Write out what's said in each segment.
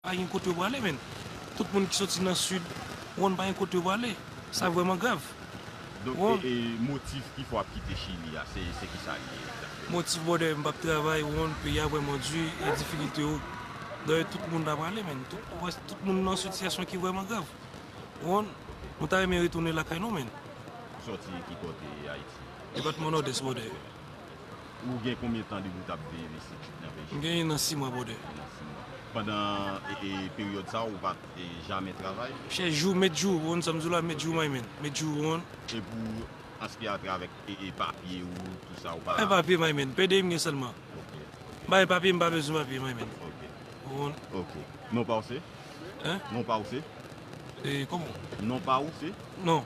Pa gen kote yo prale menn. Tout moun ki soti nan sud wonn pa gen kote yo prale. Sa vreman grav. Donk e motif ki fè wap kite chili a se kisa li ye exactement? Motif brother m pap travay wonn peyi a vreman du e difikilte yo dayè tout moun ta prale menn. Tout moun nan sitiyasyon ki vreman grav wonn. Nou ta renmen retounen lakay nou menn. Ou soti ki kote ayiti? Depatman nord est brother. Ou gen konbyen tan depi w tap viv isit nan Belgique? M gen 1 an 6 mwa brother. 1 an 6 mwa. Pandan peryòd sa ou pat jamè travay? M chè jou met jou wonn sa m di w la met jou my man met jou wonn. E pou aspè a travèk papye ou tout sa ou pa. Bay papye my man pdi m gen sèlman. Ok ok. Bay papye m pa bezwen papye my man. Ok. Ou wonn. Ok. Non pa w se? Hein? Non pa w se? E koman? Non pa w se? Non.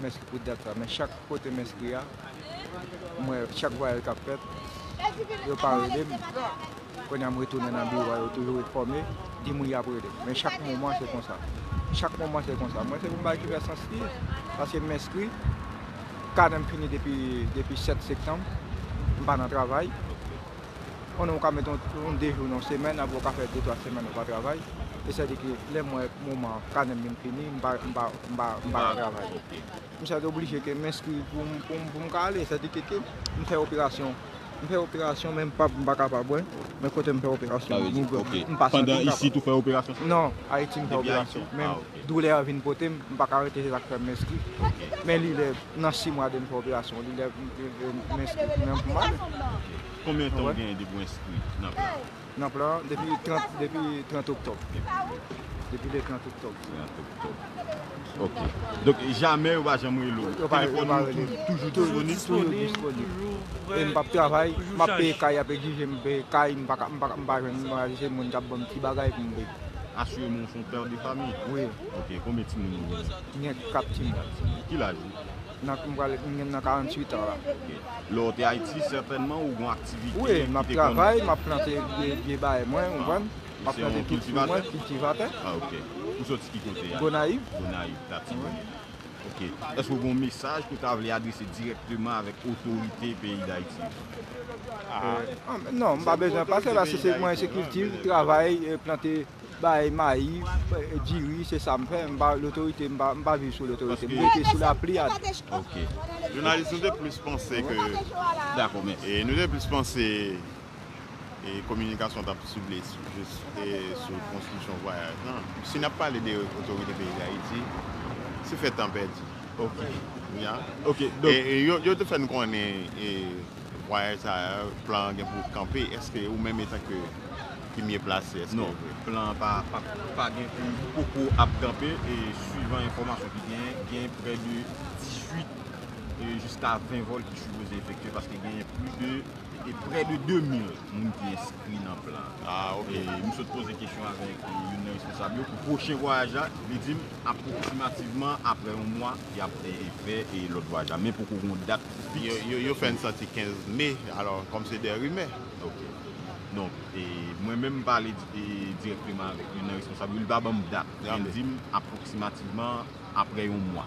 m enskri pou dat sa men chak kote m enskri a m wè chak vwayaj kap fèt yo pa rele m kounye a m retounen nan biwo a yo toujou enfòme di moun yap rele m men chak moman se konsa chak moman se konsa mwen se yon bagay ki fè sans li paske m enskri kanè m fini depi 7 sektanm m pa nan travay Yon ou ka met yon 2 jou nan yon semèn aprè ou ka fè 2 3 semèn ou pa travay e sè di ke lèm wè moman kanèm vin fini m pa m pa m pa m pa ka travay m sè oblije ke m enskri poum poum poum ka ale sè di ke ke m fè operasyon m fè operasyon men m pa m pa kapab wè men kotem fè operasyon m pa santim kapab nan ayiti m fè operasyon men Doulè an vin pote m, m pa ka rete se sa k fè m enskri. Men li lè nan si mwa de m fè operasyon li lè m enskri pou mwen m pi mal. Konbyen tan ou genyen depi w enskri nan plan an? Nan plan an depi 30 depi 30 oktòb. Depi le 30 oktòb. 30 oktòb ok. Donk jamè yo pa janm rele w? Yo pa rele m. Telefòn ou toujou disponib? Toujou disponib. E m p ap travay, m ap peye kay y ap egzije m peye kay m pa jwenn m pa egzije moun k ap ban m ti bagay pou m peye. Asiremon ou son père de famille? Wi. Ok, konbyen timoun ou genyen? M gen 4 timoun. Ki laj ou? M pral, m gen nan 48 ans la. Ok. Lè w te Ayiti sètènman ou gon aktivite ki te konnen? Wi, m ap travay, m ap plante vye bay mwen, ou konprann? M ap plante tout fwi mwen, kiltivatè. Ah ok. Ou soti ki kote? Gonayiv. Gonayiv, Latibonit. Ok. Eske ou gen yon mesaj ke w ta vle adrese direkteman avèk otorite peyi Dayiti yo? Non, m pa bezwen pase la se mwen se kilti, travay, plante bay mayi, diri, se sa m fè, m pa lotorite, m pa viv sou lotorite, m rete sou lapli a tou. Ok. Jounalis nou te plis panse ke. Dakò, mèsi. Nou te plis panse e kominikasyon t ap sible jis sou konstriksyon vwayaj lan. Si n ap pale de otorite peyi Dayiti, se fè tan pèdi. E yo te fè n konnen vwayaj sa a, plan an gen pou l kanpe. Èske ou menm etanke ki mye plase, èske yo vre? Non. Plan an pa gen pou l poko ap kanpe. E swivan enfòmasyon ki genyen, gen prè de 18 jiska 20 vòl ki sipoze efektye paske genyen plis de E prè de 2 mil moun ki enskri nan plan an. E m sot poze kesyon avèk youn nan responsab yo pou pwochen vwayaj la. Li di m apwoksimativman aprè yon mwa y ap fè lòt vwayaj la. Men poko gen yon dat fiks. Yo fè n santi 15 me, alò kòm se de rimè. Ok. Donk, mwen menm m pale dirèkteman avèk youn nan responsab yo. Li pa ban m dat. Men li di m apwoksimativman aprè yon mwa.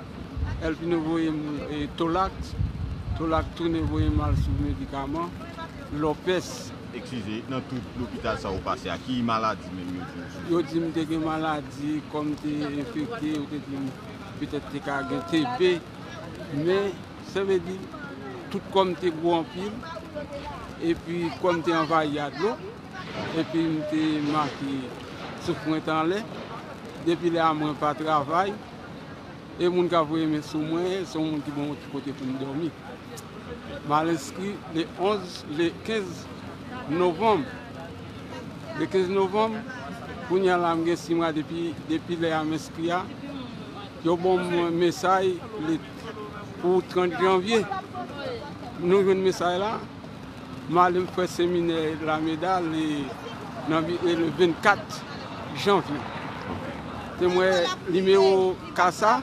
El Pino voye m Tolak, Tolak tounen voye m al sou medikaman, Lopez. Eskize, nan tout lopital sa ou pase a, ki maladi menm yo di ou soufri? Yo di m te gen maladi, kò m te enfekte, yo te di m petèt te ka gen TB, men sa vle di tout kò m te gwo anpil, epi kò m te anvayi a dlo, epi m te make souf mwen t anlè, depi lè a mwen pa travay. e moun kap voye men sou mwen se yon moun ki banm yon ti kote poum dòmi. Mal enskri le 11 le 15 novanm le 15 novanm kounya la m gen 6 mwa depi depi lè a m enskri a yo banm mesay pou 30 janvye nou jwenn mesay la. Mwen ale m fè seminè Lameda le nan le 24 janvye. Te mwen nimewo ka sa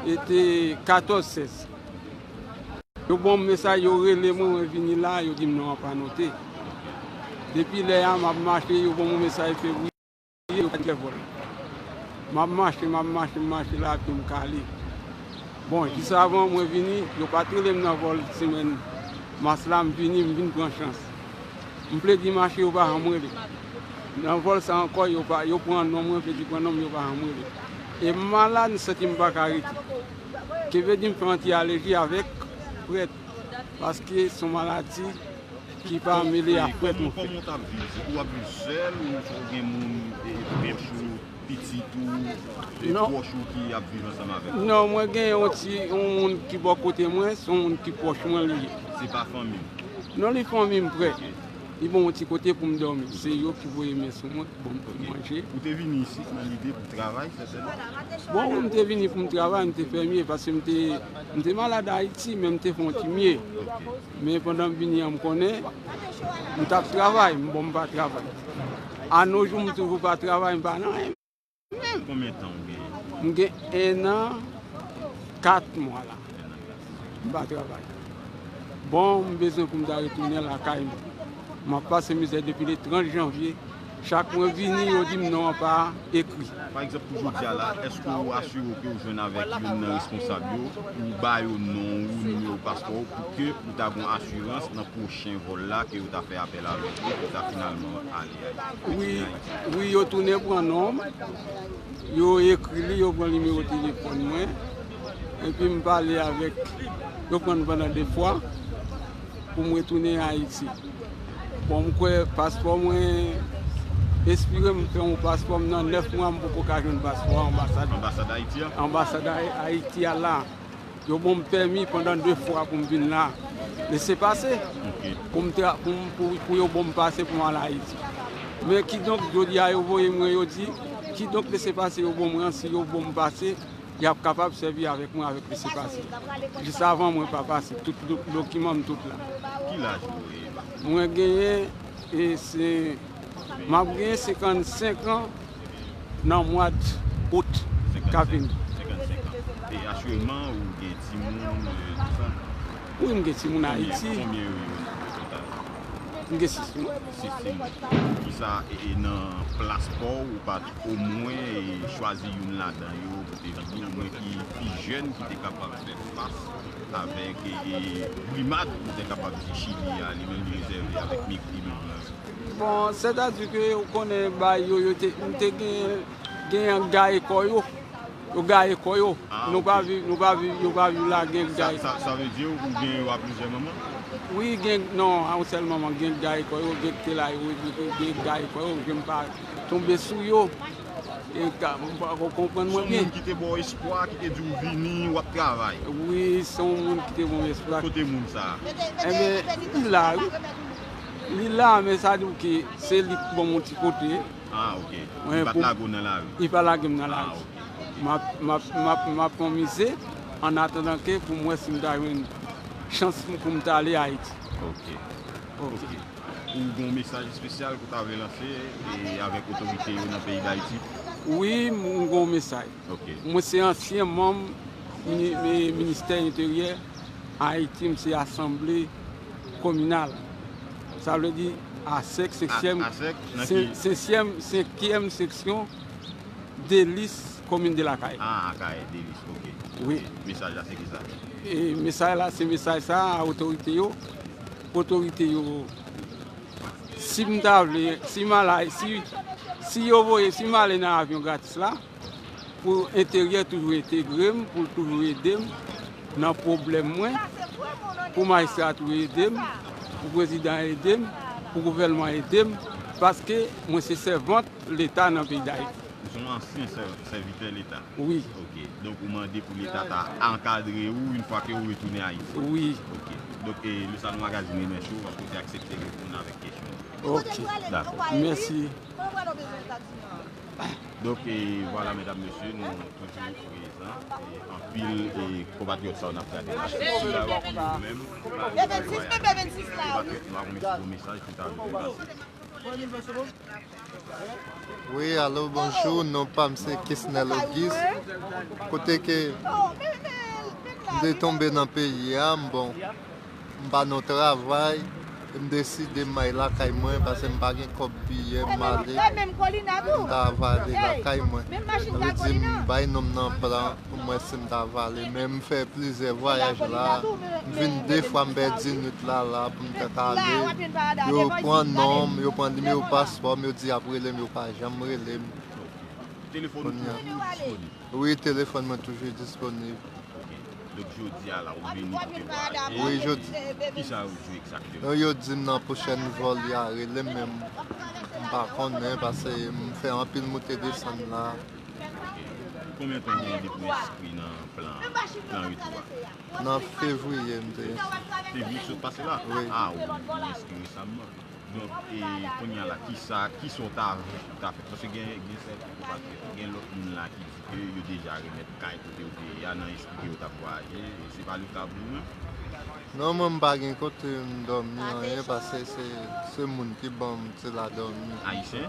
e te 14 16. Yo ban m mesaj yo rele mwen mwen vini la yo di m non an pa note. Depi lè a m ap mache yo ban m yon mesaj fevriye. Ye yo kite vole. Map mache map mache m mache la pye m kale. Bon jis avan mwen vini yo pat rele m nan vòl semèn mas la m vini m vin pran chans. M vle di mache yo pa janm rele. Nan vòl sa ankò yo pa yo pran non mwen vle di pran non m yo pa janm rele. E m malad m santi m paka rete. Ke vle di m fè anti aleji avèk prèt paske son maladi. Ki pa mele ak pèp ou fè. Koman ou tap viv? Se pou wap viv sèl ou fò ou gen moun pwòch ou, pitit ou, pwòch ou ki ap viv ansanm avèk ou? Non mwen gen yon ti yon moun ki bò kote mwen, son moun ki pwòch mwen li ye. Se pa fanmi ou? Non li fanmi m prè. Li ban mwen ti kote pou m dòmi. Se yo ki voye men sou mwen, ban m ti manje. Ou te vini isit nan lide pou travay sètènman? Bon wi m te vini pou m travay, m te fè mye paske m te malad Ayiti men m te fon ti mye. Men pandan m vini an m konnen m t ap travay m bon m pa travay. Anojou m toujou pa travay m pa nan anyen menm. Konbyen tan ou genyen? M gen ennan kat mwa la m pa travay. Bon m bezwen pou m ta retounen lakay m. M ap pase mizè depi le 30 janvye. Chak mwen vini yo dim non an pa ekri. Pa egzanp pou jodi a la, èske ou asire w ke ou jwenn avèk youn nan responsab yo pou ou ba yo non ou, nimewo paspò ou pou ke ou ta gon asirans nan pwochen vòl la ke yo ta fè apèl avèk ou pou ta finalman ale Ayiti, retounen Ayiti? Wi, yo tounen pran non m, yo ekri li, yo pran nimewo telefòn mwen, epi m pale avèk, yo pran m pandan 2 fwa. pou mwen tounen Ayiti. Bon m kwè paspò mwen espire m fè yon paspò m nan 9 mwa m poko ka jwenn paspò anbasad anbasad Ayiti a la yo bon m pèmi pandan 2 fwa pou m vin la lese pase pou m tra pou m pou yo bon m pase pou m al Ayiti men kidonk jodi a yo voye mwen yo di kidonk lese pase yo bon m ransi yo bon m pase Y ap kapab sèvi avèk mwen avèk lese pase. Jis avan mwen pa pase tout dokiman m tout la. Ki laj ou yo ye la? Mwen genyen e se m ap genyen 55 an nan mwad out k ap vini. 55 an. E asyèlman ou gen timoun e tout sa? Wi m gen timoun Ayiti. Konbyen yo ye o total? M gen 6 timoun. 6 timoun. Kisa e nan plas pa w ou pa. Omwen chwazi youn ladan yo pou te vini, omwen ki pi jèn ki te kapab fè fas avèk brimad nou te kapab di Chili a li menm li rezève avèk mepri nou blan yo. Bon, sètadi ke ou konnen bay yo, yo te, nou te gen, gen yon gaye kò yo, yo gaye kò yo. Ah, Nou pa ok. viv, nou pa viv, yo pa viv la gen Sa, gaye. sa, sa vle di ou gen yo a plizyè manman? Wi gen, non a yon sèl manman, gen gaye kò yo, gen ktela yo, gen gaye kò yo, gen m pa. Tonbe sou yo e m pa ko konprann mwen byen. Son moun ki te baw espwa ki te diw vini wap travay. Wi son moun ki te banm espwa. Kote moun sa? Enben li la wi. Li la men sa diw ke se li ki banm yon ti kote. Ah ok. Li pat lage w nan lari. Li pa lagem nan lari. Ah ok. Map pran mize an atandan ke pou m wè si m ta jwenn chans pou m ta ale Ayiti. Ok. Ok. Ou gon mesaj espesyal ke w ta vle lanse avèk otorite yo nan peyi Dayiti? Wi, m gon mesaj. Mwen se ansyen manm ministè enteryè Ayiti, m se asanble kominal. Sa vle di asèk senkyèm seksyon Delis komin de Lakay. A Akayè, Delis, ok. Mesaj la se ki sa? Mesaj la se mesaj sa a otorite yo. Otorite yo si m ta vle si m ala si yo voye si m ale nan avyon gratis la pou enteryè toujou entegre m pou l toujou ede m nan pwoblèm mwen pou majistra a toujou ede m pou prezidan ede m pou gouvèlman ede m paske mwen se sèvant Leta nan peyi Dayiti. Ou se yon ansyen sèvitè Leta? Wi. Ok. Donk ou mande pou Leta ta ankadre ou yon fwa ke ou retounen Ayiti? Wi. Ok. Donk e le Salon Magazine renmen cho paske ou te aksepte reponn avèk kesyon an. Ok. Dakò. Mèsi. Donk e vwala medam mesye nou toujou prezan e anpil e konpatriyòt sa yo n ap gade la se sila yo ki yo menm pa rive bay vwayaj. Konpatriyòt nou a renmen fè yon mesaj pou ta rive pase. Wi alo bonjou non pam se kisnel ogis kote ke m te tonbe nan peyi a m bon m pa nan travay m deside m al lakay mwen paske m pa gen kòb biyè m ale m ta va ale lakay mwen yo di m bay nonm nan plan Pou mwen sim ta vale men m fè plizyè vwayaj la m vin de fwa m pèdi nwit la la pou m te ka ale yo pran non m yo pran nimewo paspò m yo di yap rele m yo pa janm rele m wi telefòn mwen toujou disponib wi yo di m nan pwochèn vòl ya rele m men m pa konnen pase m fè anpil moute desann la. Konbyen tan gen depi w enskri nan plan YouTube a? Nan fevriye m te enskri. Fevriye ki sot pase la? Wi. A ou enskri resamman. Donk e kounya la kisa kisa w ta vle pou w ta fè? Paske gen sèten ki pa trè fè. Gen lòt moun la ki di ke yo deja remèt kay kote yo te ye a nan espri ke yo t ap vwayaje. Se pa le ka pou ou menm? Non mwen m pa gen kote m dòmi anyen paske se moun ki ban m ti la dòmi. Ayisyen?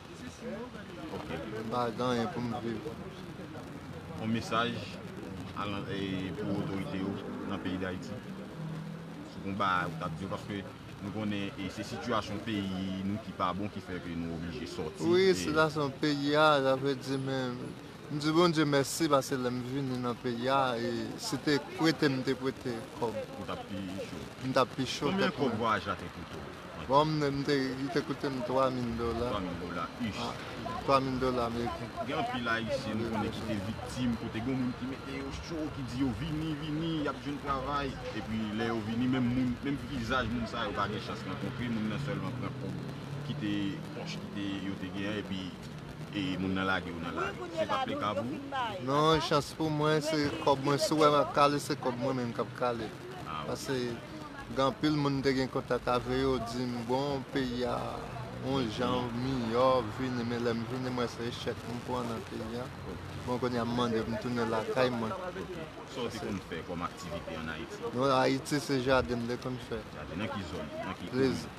Ok. M pa gen anyen pou m viv. On mesaj pou otorite yo nan peyi Dayiti. Sou kon bagay ou tap di yo paske nou konnen e se sitiyasyon peyi nou ki pa bon ki fè ke nou oblije sòti. Wi sitiyasyon peyi a sa vle di men m di Bondye mèsi paske lè m vini nan peyi a e si te prete m te prete kòb. Ou tap pi cho. M tap pi cho. Konbyen kòb vwayaj la te koute w? Bon m te li te koute m 3 mil dola. 3 mil dola ish. 3 mil dola ameriken. Gen anpil ayisyen m konnen ki te viktim kote gen yon moun ki mete yo cho ki di yo vini vini y ap jwenn travay epi lè yo vini menm moun menm vizaj moun sa yo pa gen chans rankontre moun nan sèlman pran kòb ki te pòch ki te yo te gen an epi e moun nan lage yo nan lari. Se pa t le ka pou ou? Non chans pou mwen se kòb mwen si w wè m ap kale se kòb mwen menm k ap kale. Pase gen anpil moun m te gen kontak ave yo di m bon peyi a yon jan miyò vini men lè m vini m wè se echèk m pran nan peyi a bon kounye a m mande pou m tounen lakay mwen. Sa w te konn fè kòm aktivite an Ayiti? Ayiti se jaden m te konn fè. Jaden nan ki zòn? Nan ki komin?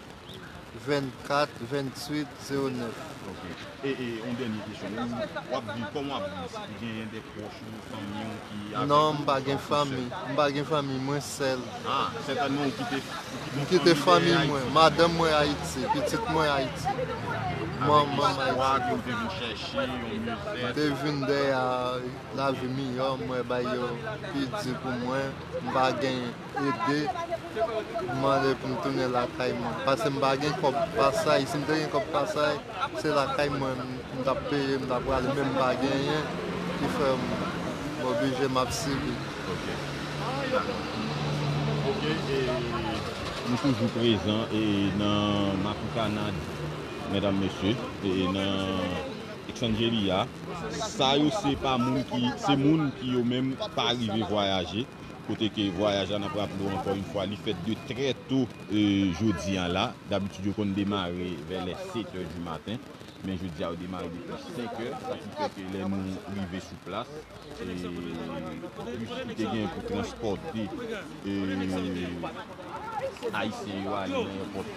24 28 09 ok e e yon dènye kesyon ou wap viv kòman wap viv si gen yon de pwòch ou fanmi ou ki avèw non m pa gen fanmi m pa gen fanmi mwen sèl a sètènman ou kite ou kite fanmi mwen madanm mwen ayiti pitit mwen ayiti manman m ayiti avèk istwa ke ou te vin chèche yon mye fèt m te vin dèyè lavi miyò mwen bay yo pi di pou mwen m pa gen Ede m mande pou m tounen lakay mwen pase m pa gen kob pasay si m te gen kob pasay se lakay mwen m tap peye m ta prale men m pa genyen ki fè m oblije m ap sibi. Ok ok e nou toujou prezan e nan Makokana medam mesye e nan Eksanjelia sa yo se pa moun ki se moun ki yo menm pa rive vwayaje. Kote ke vwayaj la n ap raple w ankò yon fwa li fèt de trè to jodi an la. Dabitid yo konn demare vè lè setè di maten. Men jodi a yo demare depi senkè. Sa ki fè ke lè nou rive sou plas, bis ki te genyen pou transpòte Ayisyen yo ale nan èpòt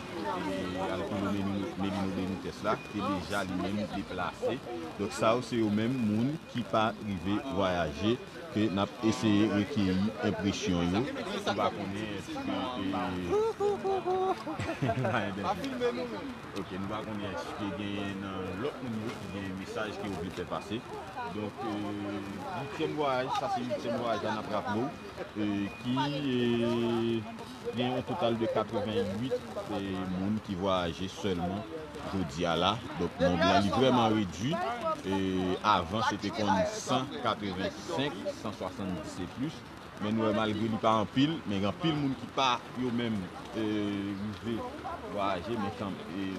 Alcuro Melino Benitez la te deja li menm deplase. Donk sa yo se yo menm moun ki pa rive vwayaje. ke nap eseye rekeyi enpresyon yo. Ou pa konnen eske ok nou pa konnen eske genyen nan lòt moun yo ki gen mesaj ke yo vle fè pase donk uityèm vwayaj sa se uityèm vwayaj la nap raple w ki Gen yon total de 88 moun ki vwayaje sèlman jodi a la. Donk nonb lan li vrèman redwi. Avan se te konn 185, 170 e plis. Men nou wè malgre li pa anpil, men gen anpil moun ki pa yo menm rive vwayaje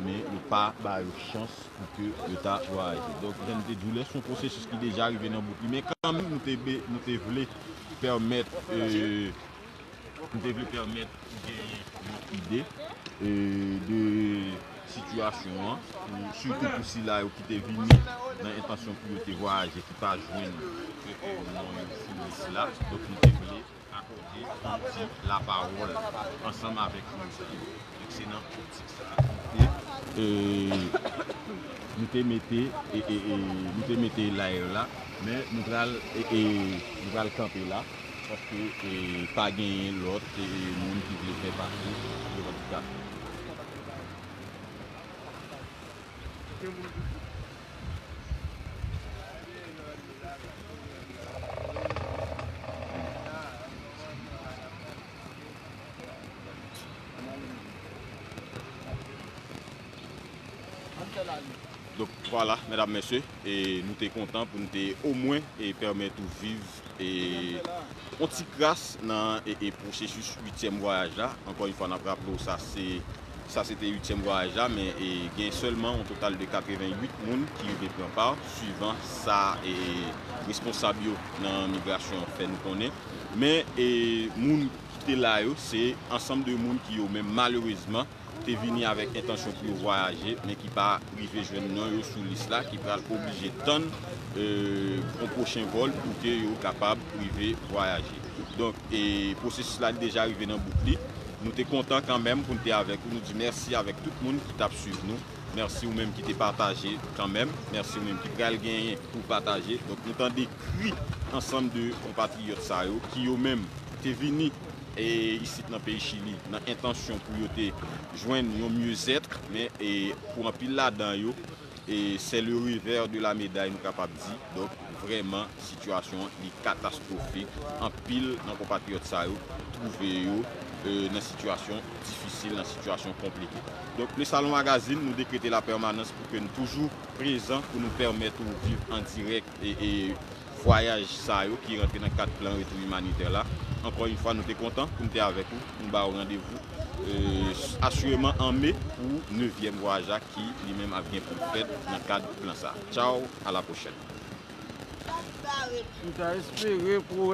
men yo pa ba yo chans pou ke yo ta vwayaje. Donk jan nou te di w lè se yon pwosesis ki deja rive nan bout li. Men kanmenm nou te vle pèmèt. Nou te vle pèmèt ou genyen yon ide de sitiyasyon an, sitou pou sila yo ki te vini nan entansyon pou yo te vwayaje ki pa jwenn non yo sou lis la. Donk nou te vle akòde yon ti lapawòl ansanm avèk moun sa yo. Donk se nan optik sa a nou te mete nou te mete live la. Men nou pral kanpe la. Paske pa genyen lòt moun ki vle fè pati revandikasyon. Donk vwala medam mesye nou te kontan pou nou te omwen pèmèt ou viv. Yon ti kras nan pwosesis uityèm vwayaj la, ankò yon fwa n ap raple w sa se sa se te uityèm vwayaj la men gen sèlman yon total de 88 moun ki rive pran pa swivan sa responsab yo nan migrasyon an fè nou konnen men moun ki te la yo se ansanm de moun ki yo menm malerezman te vini avèk entansyon pou yo vwayaje men ki pa rive jwenn non yo sou lis la ki pral oblije tann yon pwochen vòl pou ke yo kapab rive vwayaje. Donk pwosesis la li deja rive nan bout li. Nou te kontan kanmenm pou n te avèk ou. Nou di mèsi avèk tout moun ki t ap swiv nou. Mèsi ou menm ki te pataje kanmenm. Mèsi ou menm ki pral genyen pou w pataje. Donk nou tande kri ansanm de konpatriyòt sa yo ki yo menm te vini. e isit nan peyi Chili nan entansyon pou yo te jwenn yon mieux être men pou anpil ladan yo c'est le revers de la médaille nou kapab di donk vrèman sitiyasyon an li katastrofik anpil nan konpatriyòt sa yo twouve yo nan sitiyasyon difisil nan sitiyasyon konplike donk le Salon Magazine nou dekrete la permanans pou ke n toujou prezan pou nou pèmèt ou viv an dirèk. e vwayaj sa yo ki rantre nan kad plan retou imanitè la. Ankò yon fwa nou te kontan pou nou te avèk ou, nou ba ou randevou asireman an me pou nevyèm vwayaj la ki li menm ap gen pou l fèt nan kad plan sa. Tchaw, a la pwochèn.